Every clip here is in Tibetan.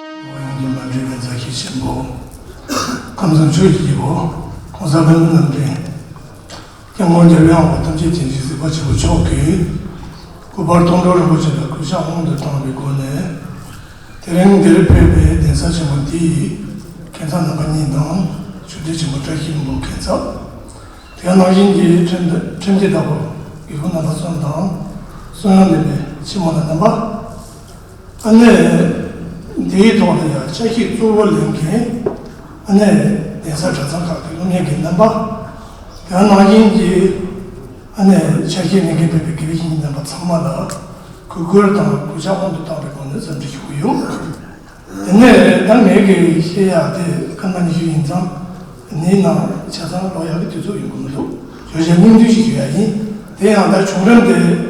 ཨོ་ཡང་དུ་མ་འདྲེས་པའི་མཛའ་བཤེས་ཆེན་པོ། ཁམས་གསུམ་ཆོས་ཀྱི་དཀྱིལ་འཁོར ྋགོང་ས་ལྷ་མོ་རྣམ་འདྲེན། སྐྱབས་མགོན་རྒྱལ་བའི་དབང་པོ་ཐམས་ཅད་བྱིན་གྱིས་གཟིགས་པ་ཆེན་པོ་མཆོག་གིས། སྐུ་པར་སྟོང་གྲོགས་རིན་པོ་ཆེ་ལ་གུས་ཕྱག་སྔོན་དུ་བཏང་བའི་སྒོ་ནས། དེ་རིང་འདིར་ཕེབས་པའི་གདན་ས་ཆེན་པོ་འདི་ཡི་མཁན་ཚབ་རྣམ་པ་གཉིས་དང་ཆོས་སྡེ་ཆེན་པོ་བཀྲ་ཤིས་འབོ་མཁན་ཚབ། དེ་ཡང་རྣམ་གཞན་གྱི་ཁྲིམས་སྡེ་བདག་པོ་དགེ་བསྐོས་རྣམ་པ་གསུམ་དང། གསུང་དབྱངས་འདོན་པའི་ཆེན་མོ་རྣམས་པ། ཨ་ནེ། འདིའི་ཐོག་ནས་ཡང་ཆ་ཤས་གཙོ་བོ་ལེན་མཁན་ཨ་ནེ། གདན་ས་གྲྭ་ཚང་ཁག་གི་སློབ་གཉེར་གྱི་རྣམ་པ། རྒྱ་ནག་གཞིན་གྱི་ཨ་ནེ། ཆ་ཤས་གནས་མཁན་བོད་པའི་དགེ་བའི་བཤེས་གཉེན་རྣམ་པ་ཚང་མ་ལ་གུས་བཀུར་དང་གུས་ཕྱག་དབང་དུ་བཏང་བའི་སྒོ་ནས་འཚམས་འདྲི་ཞུ་གི་ཡོད། དེ་ནས་ད་ངས་དགེ་བའི་བཤེས་ཡག་དེ་སྐར་མ་ཉི་ཤུ་ཡིན་ཙང་འདིའི་ནང་ཆ་ཚང་ཀློག་ཡག་གི་དུས་ཚོད་ཡོང་གི་མི་འདུག་བརྗོད་བྱ་སྙིང་བསྡུས་ཤིག་ཞུ་ཡག་ཡིན། དེ་ཡང་ད་བྱུང་རིམ་དེ།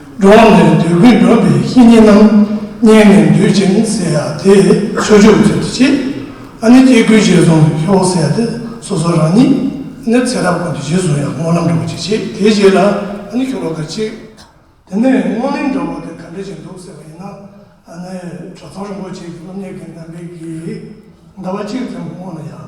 འགྲོ་འོང་ནས་འདོད་དགུས་འགྲོ་བའི་བཤེས་གཉེན་རྣམས་བསྙེན་ནས་འདུད་ཅིང་བསྲེལ་ཡང་དེས་ཚུལ་འཆོས་པའི་ཚུལ་དུ་བྱེད། ཨ་ནི་སྐྱེ་དགུའི་རྗེས་བཟུང་བའི་ཁྱོ་བོ་ཟས་ཏེ་སོ་སོ་རང་ཉིད་ནི་ཚེ་རབས་ཀུན་ཏུ་རྗེས་བཟུང་ཡང་སྔོ་ལམ་འགྲོ་བ་ཅིག་བྱེད་དེའི་རྗེས་ལ་ཨ་ནི་ཁྱོ་བོ་དགའ་གཅིག། དེ་ནས་སྔོ་ལེམ་འགྲོ་བ་དེ་ག་འདྲ་ཞིག་འདུག་ཟེར་བ་ཡིན་ན་ཨ་ནི་གྲོ་ཚང་རིན་པོ་ཆེ་གི་སློབ་གཉེར་གྱི་འདམ་པའི་གིས་ཟླ་བ་གཅིག་ཙམ་གྱི་སྔོན་ལ་ཡང།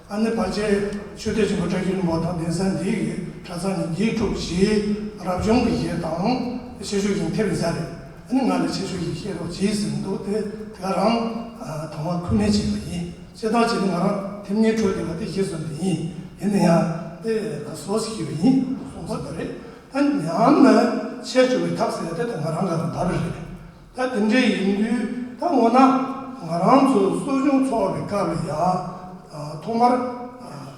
ཨ་ནེ་བར་ཆད་ཆོས་སྡེ་ཆེན་པོ་བཀྲ་ཤིས་རིན་པོ་དང་གདན་ས་འདི་ཡི་གྲྭ་ཚང་ནི་དགེ་ཕྲུག་བཞིའི་རབ་བྱུང་གི་ཞེས་དང། ཆེ་ཤོས་ཀྱང་ཐེབས་ཡོད་ས་རེད། ཨ་ནེ་ང་ལ་ཆེ་ཤོས་ཀྱི་བཤད་རོགས་གྱིས་ཟེར་འདུག་དེ་དེ་ག་རང་དང་བ་ཁུལ་མེད་བྱས་པ་ཡིན། བཤད་སྟངས་གཅིག་ནི་ང་རང་ཐེབས་ངེས་འཕྲོད་བསྡད་པ་དེ་བཞེས་བཟོ་འདི་ཡིན། ཡིན་ན་ཡང་དེ་ལ་ཟོ་ཟེར་གྱི་ཡོད་ཡིན་གསུངས་ས་དེ་རེད། ད་ཉམས་ནས་ཆད་བཅུག་པའི་ཐབས་ཟེར་ཡ་དེ་ད་ང་རང་ག་རང་བབས་རེད། ད་དེ་འདྲའི་ཡིན་དུས་ད་ངོ་ན་ང་རང་ཚོ་གསོ་སྦྱོང་འཚོགས་པའི་སྐབས་ལ་ཡང་ཐོག་མར་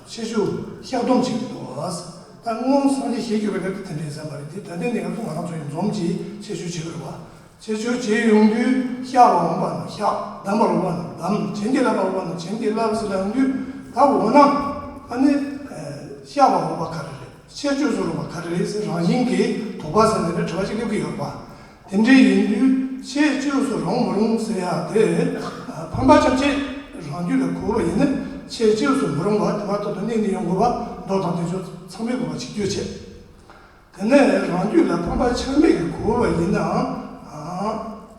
ཆེ་ཆུང་བཤགས་སྡོམ་བྱེད་དགོས་འདུག་ད་སྔོན་སངས་རྒྱས་ཞལ་གྱོད་པའི་སྐབས་ཀྱི་དེ་འདྲའི་ཟེར་མ་རེད་དེ་ད་ལྟའི་གནས་སྐབས་སུ་ང་རང་ཚོ་ཡང་འཛོམས་ཀྱིས་ཆེ་ཆུང་བྱེད་དགོས་པ། ཆེ་ཆུང་བྱེད་ཡོང་དུས་བཤགས་པར་འོང་པ་ན་བཤགས་བསྡམ་པར་འོང་པ་ན་བསྡམ་བྱིན་གྱིས་བརླབ་པར་འོང་པ་ན་བྱིན་གྱིས་བརླབ་ཟེར་ཡོང་དུས་ད་འོ་ན་ཨ་ནི་བཤགས་པར་འོང་པ་ག་རེ་རེད་ཆེ་ཆུང་བཟོ་རུང་བ་ག་རེ་རེད་ཟེར་རང་བཞིན་གྱིས་དོགས་པ་ཟེར་ནས་རེ་བྲལ་བ་ཞིག་སླེབས་ཀྱི་ཡོད་པ། དེ་འདྲའི་ཡིན་དུས་ཆེས་བཅོས་སུ་རུང་མི་རུང་ཟེར་ཡག་དེ་རེད། ཕམ་པ་ཁྱབ་ཆེད་རང་རྒྱུད་ལ་གོ་བ་ཡིན་ན་ཆེས་བཅོས་སུ་མི་རུང་བ་དེ་བར་དོ་དོ་ནི་ནི་ཡོང་དགོས་པ་འགྲོ་དང་དེ་ཆོ་ཚང་མི་དགོས་པ་ཆིག་བརྒྱུད་ཆེད། དེ་ནས་རང་རྒྱུད་ལ་ཕམ་པ་ཆགས་མེད་ཀྱི་གོ་བ་ཡིན་ནའང་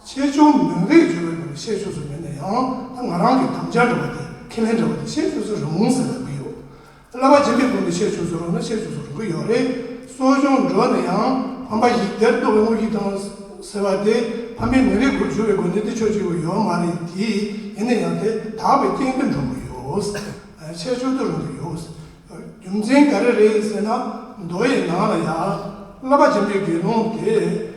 ཆེས་བཅོས་མིན་རེད་བརྗོད་པའི་སྒང་ལ་ཆེས་བཅོས་སུ་མིན་ན་ཡང་ད་ང་རང་གི་དམ་བཅའ་འདྲ་བ་དེ་ཁས་ལེན་འདྲ་བ་དེ་ཆེས་བཅོས་སུ་རུང་ཟེར་ལབ་ཀྱི་ཡོད། བླ་མ་རྗེ་འདིའི་དགོངས་འདི་ཤེས་བྱུང་ཟུར་རོ་ན་ཤེས་བྱུང་ཟུར་རོ་གི་ཡོག་རེད། གསོ་སྦྱོང་འགྲོ་ནས་ཡང་ཕམ་པ་ཞིག་དེར་ལྟོ་བའི་དངུལ་གྱིས་བཏང་ཟེར་བ་དེ་ཕམ་པའི་མི་རེ་དགུར་བྱུར་བའི་དགོས་འདུན་དེ་ཆོས་གཅིག་པུ་ཡོག་མ་རེད་དེ་ཡིན་ན་ཡང་དེ་དག་པའི་སྐྱེ་འདུན་འགྲོ་གི་ཡོག་ཆེ་ཆུང་དུ་རུང་གི་ཡོག་རྒྱུ་མཚན་ག་རེ་རེད་ཟེར་ན་མདོ་ཡི་ནང་ལ་ཡང་བླ་མ་རྗེ་འདིའི་དགེ་སློང་དེས།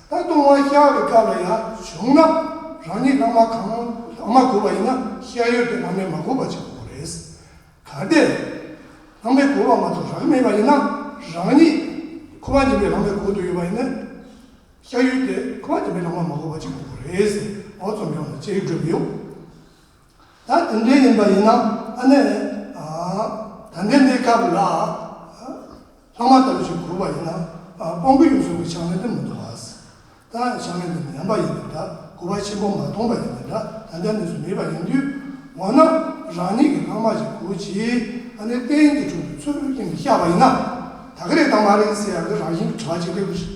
ད་དུང་དབང་ཤར་བའི་སྐབས་ལ་ཡང་བྱུང་ན་རང་ཉིད་བླ་མ་གང་ལགས་མ་གོ་བ་ཡིན་ན་ཤེས་ཡོན་ཏན་བླ་མས་མ་གོ་བ་ཆགས་པོ་རེད། གལ་ཏེ་བླ་མས་གོ་བ་མ་གཏོགས་རང་མེད་པ་ཡིན་ན་རང་ཉིད་ཁོ་པ་ཉིད་པའི་བླ་མས་གོ་འདོད་ཡོད་པ་ཡིན་ན་ཤེས་ཡོན་ཏན་ཁོ་པ་ཉིད་པའི་བླ་མ་མ་གོ་བ་ཆགས་པོ་རེད་ཟེར་བ་ཙམ་ཡང་ལ་ཅེར་སྒྲོས་མི་ཡོང། ད་དེ་འདྲའི་ཡིན་པ་ཡིན་ན་ཨ་ནེ། ད་འདི་འདི་སྐབས་ལ་ལྷག་མ་ལྟ་བུ་ཞིག་གོ་བ་ཡིན་ན་སྤོང་གི་ཡོད་བཟོ་གི་ཆགས་མེད་དུ་མི་འདུག་ཨཱས། ད་ཆགས་མེད་འདི་ནི་ཡན་པ་ཡིན་པའི་འདྲ་གོ་བ་ཆེན་པོ་མ་མཐོང་པ་ཡིན་པའི་འདྲ་ད་འདི་འདི་སུ་མེད་པ་ཡིན་དུས་འོ་ན་རང་ཉིད་ཀྱི་ལྷག་མ་ཞིག་གོ་ཅིག་ཨ་ནེ་གཏན་གྱི་དྲུང་དུ་ཚུར་ཁྱེར་ནས་བཤད་པ་ཡིན་ན་ད་ག་རེད་དང་མ་རེད་ཟེར་ཡག་གི་རང་བཞིན་གྱི་དྲི་བ་ཅིག་སླེབས་ཀྱི་རེད།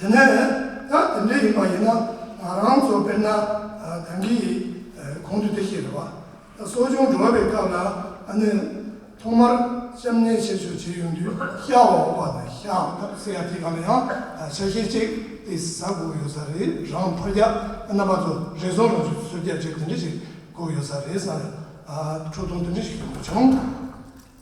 དེ་ནས་ཡང་དེ་འདྲས་ཡིན་པ་ཡིན་ན་ང་རང་ཚོ་དཔེར་ན་གངས་སྐྱིད་ཡིན་གོང་དུ་དེ་ཞིག་རེད་བ། གསོ་སྦྱོང་འགྲོ་བའི་སྐབས་ལ་ཨ་ནེ་ཐོག་མར་གཤམ་གནས་བཤད་བྱོས་བྱས་ཡོང་དུས་ཤ་བ་འོག་པ་དང་ཤ་བ་འདབ་བསྲེས་ཡ་དེ་ག་ལ་ཡང་ཆ་ཤས་གཅིག་དེ་ཟ་དགོས་ཡོད་ས་རེད་རང་ཕར་རྒྱག་ཨ་ན་པ་ཚོ་རེ་ཟུང་རང་ཚོས་ཟུར་རྒྱག་བྱས་དེ་འདྲས་ཞིག་དགོས་ཡོད་ས་རེད་བསམ་ཡང་ཁྲོ་ཐུང་དེ་འདྲས་ཞིག་ཡོང་དུས་བྱུང།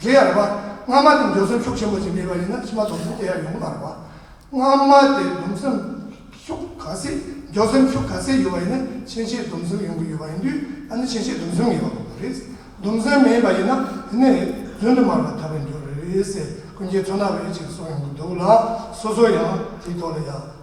དེ་ཡང་རེ་བ། སྔ་མ་དེ་འཇོག་སེམས་ཤུགས་ཆེན་པོ་བྱེད་ངེས་པ་ཡིན་ན་ཕྱི་མ་སྡོམ་སེམས་དེ་ཡང་ཡོང་གི་མ་རེད་པ། སྔ་མ་དེ་སྡོམ་སེམས་ཤུགས་ག་ཚད་འཇོག་སེམས་ཤུགས་ག་ཚད་ཡོད་པ་ཡིན་ན་ཕྱིན་ཆད་སྡོམ་སེམས་ཡོང་གི་ཡོད་པ་ཡིན་དུས་ད་ནི་ཕྱིན་ཆད་སྡོམ་སེམས་ངེས་པ་དགོས་པ་རེད། སྡོམ་སེམས་མེད་པ་ཡིན་ན་དེ་ནི་བརྫུན་དུ་མར་བ་ཐར་པའི་འགྱུར་རེད། ཀུན་མཁྱེན་མཚོ་སྣ་བས་ཅིག་གསུངས་ཡོང་གི་འདུག་ལ་སོ་སོ་ཡང་དེའི་ཐོག་ལ་ཡང།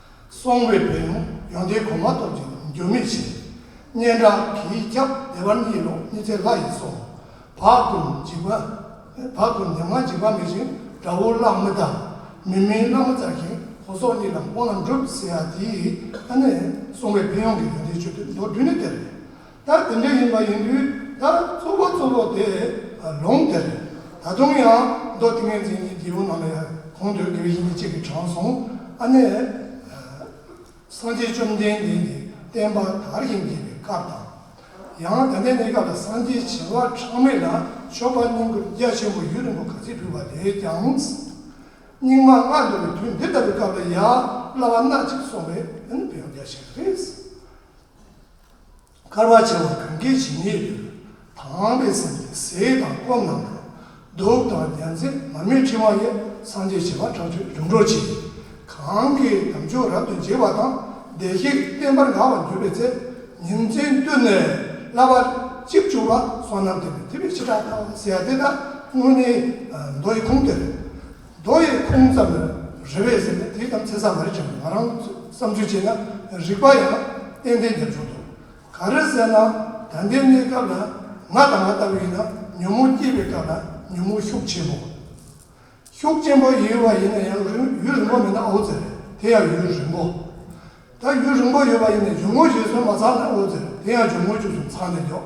སོང་བའི་བུ་ཡང་ཡོན་ཏན་གོང་མ་སྟོབས་ཀྱིས་འགྱུར་མེད་བྱས། སྙན་གྲགས་ཀྱིས་སྐྱབས་བདེ་བར་གཉིད་ལོག་གཉིད་ཚད་ལྷ་ཡིས་སོང། བག་ཀུན་འཇིགས་པ། བག་ཀུན་ཉམ་ང་འཇིགས་པ་མེད་བཞིན་དགྲ་བོ་གླགས་མི་ལྟ། མི་མིན་བླ་མ་བཙགས་ཤིང་གོ་སོགས་གཉིས་ལམ་དབང་ལམ་སྒྲུབ་ཟེར་ཡ་དེའི་ཨ་ནེ། སོང་བའི་བུ་ཡང་གི་ཡོན་ཏན་ཆོས་ཐུན་མདོར་བསྡུས་ནི་དེ་རེད། ལྟར་དེ་འདྲའི་ཡིན་པ་ཡིན་དུས་ལྟར་གཙོ་བོ་གཙོ་བོ་དེ་ལུང་དེར་ད་དུང་ཡང་མདོ་ཏིང་ངེ་འཛིན་གྱི་རྒྱལ་པོ་རྣམས་ལ་གོང་དུ་དགེ་བའི་བཤེས་གཉེན་གཅིག་གིས་དྲངས་སོང་ཨ་ནེ། སངས་རྒྱས་བཅོམ་ལྡན་འདས་ཀྱི་བསྟན་པ་དར་ཞིང་རྒྱས་པའི་སྐབས་དང། ཡང་ད་ལྟའི་གནས་སྐབས་ལ་སངས་རྒྱས་བྱེ་བ་ཕྲག་མེད་ལ་ཤོག་པ་སྙིང་པོ་རྒྱ་ཆེན་པོ་ཡུན་རིང་པོ་ག་ཚད་ཕུལ་བ་ལས་ཀྱང། སྙིགས་མ་ལྔ་འདུལ་བའི་དུས་འདི་ལྟ་བུའི་སྐབས་ལ་ཡ་བླ་བ་སྣ་གཅིག་སོང་བས་ཡང་རྒྱ་ཆེ་བ་རེད། དཀར་བ་བྱེ་བ་གང་གཱའི་བྱེ་སྙེད་དུ། དྭངས་པའི་སེམས་ཀྱིས་ཟས་དང་སྐོམ་རྣམས་དང། གདུགས་དང་རྒྱ་མཚན་མ་མོའི་འཕྲེང་བ་ཡི། སངས་རྒྱས་བྱེ་བ་ཕྲག་བཅུ་འབྱུང་འཕྲོག་ཅིང། གང་གཱའི་དམ་ཆོས་རབ་ཏུ་འཇིགས་པ་དང། བདེ་གཤེགས་བསྟན་པར་དགའ་བར་གྱུར་པའི་ཚེ། ཉིན་མཚན་བསྟུད་ནས་བསླབ་པ་གཅིག་བཅུ་པ་སོ་ནམ་ཐེག་པའི་ཐེག་པའི་ཕྱི་དགྲ་དང་བསྲེ་ཡ་དེ་དག་སྔོན་ནི་མདོ་ཡི་ཁུངས་དེར། རྡོ་ཡི་ཁུངས་ཙམ་ལ་རེ་བས་ཟེར་ན་དེའི་དམ་ཚིག་ཟ་མ་རེད་ཀྱང་ང་རང་ཚོས་བསམ་ཚུལ་བྱས་ན་རིག་པ་ཡང་ཏན་ཏན་རྒྱབ་ཆོག་འདུག་ག་རེ་ཟེར་ན་ད་ལྟའི་གནས་སྐབས་ལ་ང་དང་ང་ལྟ་བུ་ཡིན་ན་ཉོན་མོངས་སྐྱེས་པའི་སྐབས་ལ་ཉོན་མོངས་ཤུགས་ཆེན་པོ། ཤུགས་ཆེན་པོ་ཡོད་པ་ཡིན་ན་ཡང་རིང་ཡུན་རིང་པོ་མེད་ན་ཨོ་ཛེར་དེ་ཡང་ཡུན་རིང་པོ། ད་ཡུན་རིང་པོ་ཡོད་པ་ཡིན་ན་འཇུག་ངོ་བཞེས་སུ་མ་ཚང་ན་ཨོ་ཛེར་དེ་ཡང་འཇུག་ངོ་བཅུ་གསུམ་ཚང་ནས་འཇོག།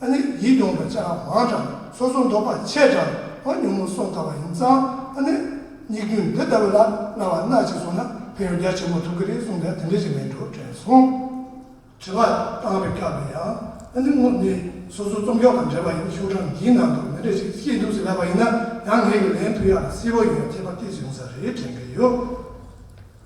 ཨ་ནི་ཡིད་གདུང་བ་ཅག་མང་དྲགས། སོ་སོ་འདོགས་པ་ཆད་དྲགས་ཨོ་ཉོན་མོ་སོགས་དགའ་བ་ཡིན་ཙང་ཨ་ནི། སྙིགས་དུས་འདི་ལྟ་བུ་ལ་སྣང་བ་སྣ་གཅིག་བཟུང་ན་ཕན་ཡོན་རྒྱ་ཆེན་པོ་ཐོབ་གི་རེད་གསུངས་པས་དེ་འདྲའི་རིགས་མིན་འགྲོ་དྲན་སོང། དྲི་བ། བཏང་བའི་སྐབས་ལ་ཡང་ཨ་ནི་ངོ་ནི་སོ་སོ་རྩོམ་ཤོག་དང་འབྲེལ་བ་ཡིན་ཤོག་གྲངས་འདིའི་ནང་དུ་མི་འདྲ་ཞིག་ཤེས་འདུག་ཟེར་ལབ་པ་ཡིན་ན་ཡང་ངེད་ཀྱིས་ལན་ཕུལ་ཡག་ལ་སིལ་བོ་ཡིན་ཡང་ཁྱད་པར་སྐྱེས་ཟིན་ས་རེད་དྲན་གི་ཡོད།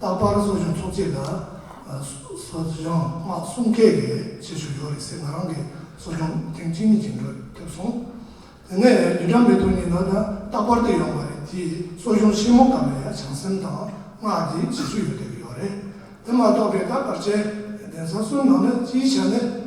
རྟག་པར་གསོ་སྦྱོང་ཚོགས་ཆས་དང། གསོ་སྦྱོང་དམག་གསུམ་མཁས་པའི་ཆེད་ཞུ་ཡོད་རེད་ཟེར་ང་རང་གིས་གསོ་སྦྱོང་ཐེངས་གཅིག་གཉིས་ཅིག་འགྲོ་ཐུབ་སོང། དེ་ནས་ལི་ཀྲང་མེ་ཏུ་ཉིན་ལ་ད་རྟག་པར་དུ་ཡོང་བ་རེད་དེ་གསོ་སྦྱོང་ཆེན་མོ་སྐབས་ལ་ཡ་བྱང་སེམས་དང་སྔགས་འདི་བྱེད་ཚུལ་ཡོད་དོ་ཡོད་རེད་དེ་མ་གཏོགས་པའི་རྟག་པར་ཅན། གདན་ས་གསུམ་ནང་ན་སྤྱིའི་ཆ་ནས།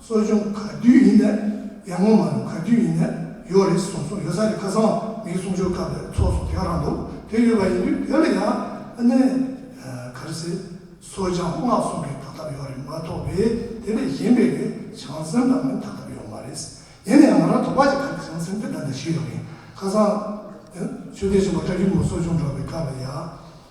གསོ་སྦྱོང་ག་དུས་ཡིན་ནས་ཡར་ངོ་མ་རུ་ག་དུས་ཡིན་ནས་ཡོད་རེད་གསུངས་སོང་ཡོད་ས་རེད་ཁ་སང་བ་མིའི་གསུང་ཆོས་སྐབས་ལས་ཚོགས་སུ་དེའང་རག་འདུག་དེ་ཡོད་པ་ཡིན་དུས་དེ་ལ་ཡང་ཨ་ནེ་ག་རེ་ཟེར་གསོ་སྦྱང་སྔགས་གསུང་གི་དག་ཐབས་ཡོད་རེད་མ་ཐོག་པས་དེ་ལས་གཞན་པའི་ལས་བྱང་སེམས་དང་མིན་དག་ཐབས་ཡོད་མ་རེད་ཟེར་ཡིན་ན་ཡང་ང་རང་དོག་པ་ཅིག་ག་རེ་བྱང་སེམས་དེ་འདྲ་འདྲ་ཞིག་ཡོད་རེད་ཁ་སང་ཆོས་སྡེ་ཆེན་པོ་བཀྲ་ཤིས་མོ་གསོ་སྦྱོང་འགྲོ་བའི་སྐབས་ལ་ཡང་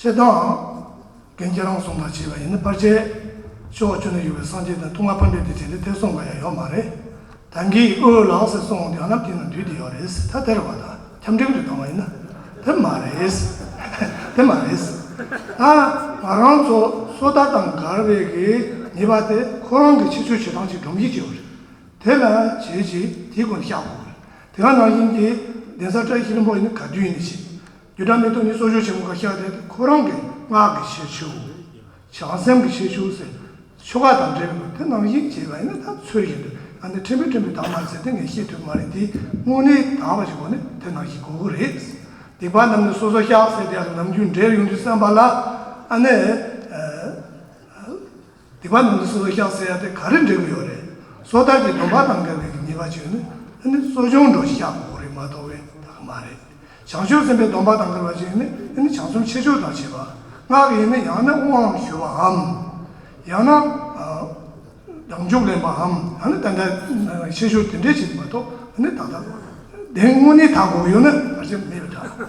ཅེས་དང། རྒན་རྒྱལ་རོང་གསུངས་པར་བྱས་པ་ཡིན་ན་པར་ཆས། ཆུ་བོ་ཆུ་ནས་ཡོད་པའི་སངས་རྒྱས་དང་ཐུགས་མངའ་ཕ་འདྲེ་དེ་བྱས་ནས་དེར་སོང་པ་ཡང་ཡོད་མ་རེད། ད་འགི་ཨོའོ་ལགས་ཟེར་སོང་འོང་དུས་ཨ་ནམ་དེ་ན་འདུས་དེ་ཡོད་རེད། ད་དེར་བ་དང་ཁྱམས་འགྲིམ་དུ་བཏང་བ་ཡིན་ན། དེ་མ་རེད། དེ་མ་རེད། ད་ང་རང་ཚོ་སོ་ད་དང་མགར་བས་གི་ཉེས་པ་དེ་ཁོ་རང་གི་ཕྱི་ཚུལ་བྱེད་སྟངས་ཀྱིས་སྒྲོམ་གཞི་བྱས་བ་རེད། དེ་ན་བྱས་ཀྱིས་དེའི་སྒོ་ནས་བཤགས་དགོས་བ་རེད། དེ་ག་ནང་བཞིན་གྱི་གདན་ས་བཀྲ་ཤིས་རིན་པོ་ཡིན་ན་ག་དུས་ཡིན་ན་བྱས། རྒྱུ་སྒྲ་མི་རྟོག་ཉིད་སོགས་ཆོས་ཆེན་པོ་ཁ་ཤས་དེ་ཁོ་རང་གི་སྔགས་ཀྱི་ཤེས་བྱུས། བྱང་སེམས་ཀྱི་ཤེས་བྱུས་སོགས་ཆོ་ག་དང་འབྲེལ་བའི་དེ་སྣང་ཞིག་བྱས་པ་ཡིན་ན་ད་ཚོད་བཞིན་དུ་ཨ་ནི་ཕྲན་བུ་ཕྲན་བུ་དག་མ་ཟེར་ཏེ་ངས་ཤེས་ཐུབ་མ་རེད་དེ་དངོས་གནས་དག་པ་ཞིག་གོ་ནི་དེ་སྣང་ཞིག་གོ་གི་རེད། སྡིག་པ་རྣམས་ནི་སོ་སོ་བཤགས་ཟེར་དེ་ཡང་ནམ་རྒྱུན་འབྲེལ་ཡོང་དུས་བསམ་པ་ལ་ཨ་ནི། འདི་པ་ནང་དུ་སོ་སོ་ཤག་ཟེར་ཡ་དེ་ག་རེ་འབྲེལ་གི་ཡོད་རེད། སོ་ཐར་གྱི་སྡོམ་པ་དང་འགལ་བའི་ཉེས་པ་བྱོས་ནི་ཨ་ནི་གསོ་སྦྱོང་འགྲོ་ཤག་གོ་རེ་མ་གཏོགས་བས་ད་གི་མ་རེད། བྱང་ཆུབ་སེམས་དཔའི་སྡོམ་པ་དང་འགལ་བ་བྱོས་ནི་ཨ་ནི་བྱང་སེམས་ཆེ་ཆོག་དག་བྱེད་པ། སྔགས་ཡིན་ནི་ཡང་ན་དབང་བཞུ་བ་འམ། ཡང་ན། ལྡང་འཇུག་ལེན་པ་འམ་ཡང་ན་དེ་འདྲ་ཆེ་ཆོག་དེ་འདྲས་བྱེད་ཀྱི་མ་གཏོགས་ཨ་ནི་ད་ལྟ། དེ་དངོས་གནས་ད་གོ་གི་ཡོད་ནི་ག་རེ་མེད་པའི་འདྲ།